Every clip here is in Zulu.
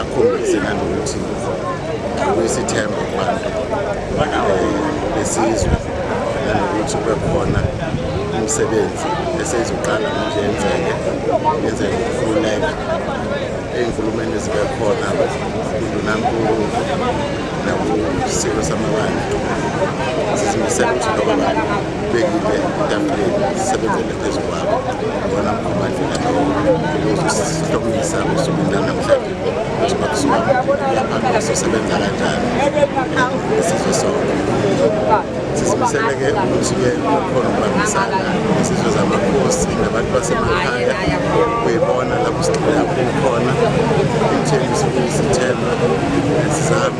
akhombise nanokuthi kuyisithemba kubantu besizwe nanokuthi kube khona umsebenzi eseyizoqala manje yenzeke yenzeke ukufuneka ey'nkulumeni ezibe khona indunankulu nakusiko samabandla sizimisele ukuthi loba bantu bekile itafuleni sisebenzele phezulu sisebenza kanjani isizwe sonke sisibiseleke ukuthi-ke bakhona ukubambisana izizwe zamakhosi nabantu basemakhaya kuyibona lapho sigxila kukhona ekutheni sifuna isithemba sizame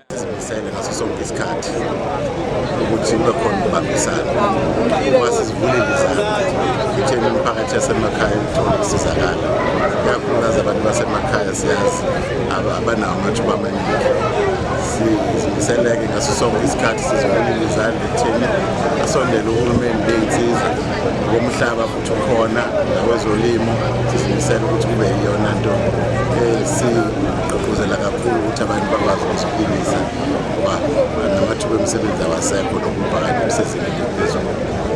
sizimisele ngaso sonke isikhathi ukuthi kube khona ukubambisana uma sizivulile izandla itheni imiphakathi yasemakhaya ukuthola ukusizakala ikakhulukazi abantu basemakhaya siyazi abanawo amathuba amaningi sizimisele-ke ngaso sonke isikhathi sizivulile izandla ekutheni asondele uhulumeni beyinsiza ngomhlaba khona nakwezolimo sizimisela ukuthi kube yiyona nto esigqugquzela kakhulu ukuthi abantu bakwazi ukuziphilisa ngoba namathuba emisebenzi awasekho nokuphakathi kusezingeni eliphezulu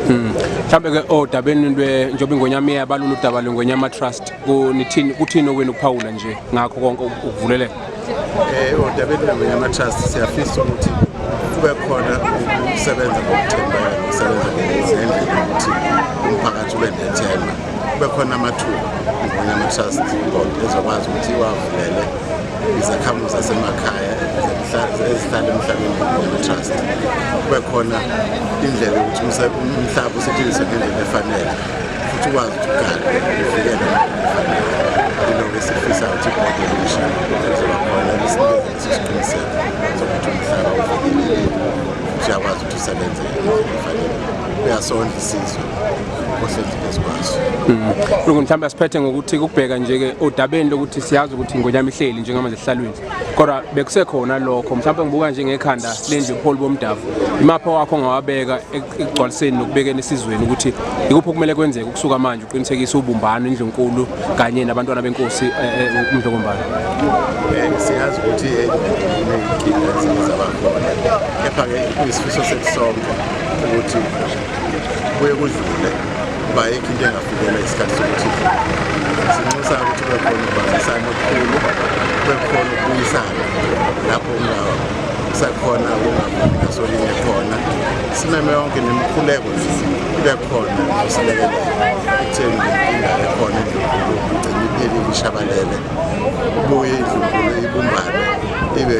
hmm. mhlawumbe ke odabeni njengoba ingonyama iyabalula udaba lwengonyama trust kunithini kuthini okwenu ukuphawula nje ngakho konke ukuvuleleka Eh, odabeni lwamanye ama-trust siyafisa ukuthi kube khona ukusebenza ngokuthembeka nokusebenza ngendlela yokuthi umphakathi ube nethemba kube khona amathuba ngamanye ama-trust board ezokwazi ukuthi iwavulele izakhamuzi zasemakhaya ezihlala emhlabeni ama-trust kube khona indlela yokuthi umhlaba usetshenziswe ngendlela efanele futhi ukwazi ukuthi ukugala uvikele ilokhu esifisa ukuthi ibhodi elisha lizoba khona lisinikeze leso siqiniseko sokuthi umhlaba uvikelekile futhi uyakwazi ukuthi usebenze efanele uyasondla isizwe ohlelile sikwazi mm. lokhu mhlawumbe asiphethe ngokuthi kubheka nje-ke odabeni lokuthi siyazi ukuthi ingonyama ihleli njengamanje esihlalweni kodwa bekusekhona lokho mhlawumbe ngibuka nje ngekhanda lenje ubuholi bomdavu imapha wakho ongawabeka ekugcwaliseni nokubekeni esizweni ukuthi ikuphi okumele kwenzeke ukusuka manje uqinisekise ubumbano indlunkulu kanye nabantwana benkosi eh, eh, umdlokombalo eh, siyazi ukuthi kepha-ke kuyisifiso sekusonke ukuthi kuye kudlule bayikho into engafikela isikhathi sokuthi sinxusa ukuthi kube khona ukubambisana okukhulu kube khona ukubuyisana lapho kusakhona kungasolinye khona simeme yonke nemikhuleko ibe khona usilekelela ekutheni inkinga ekhona endlunkulu igcine iphelile ishabalele ubuye indlunkulu ibumbane ibe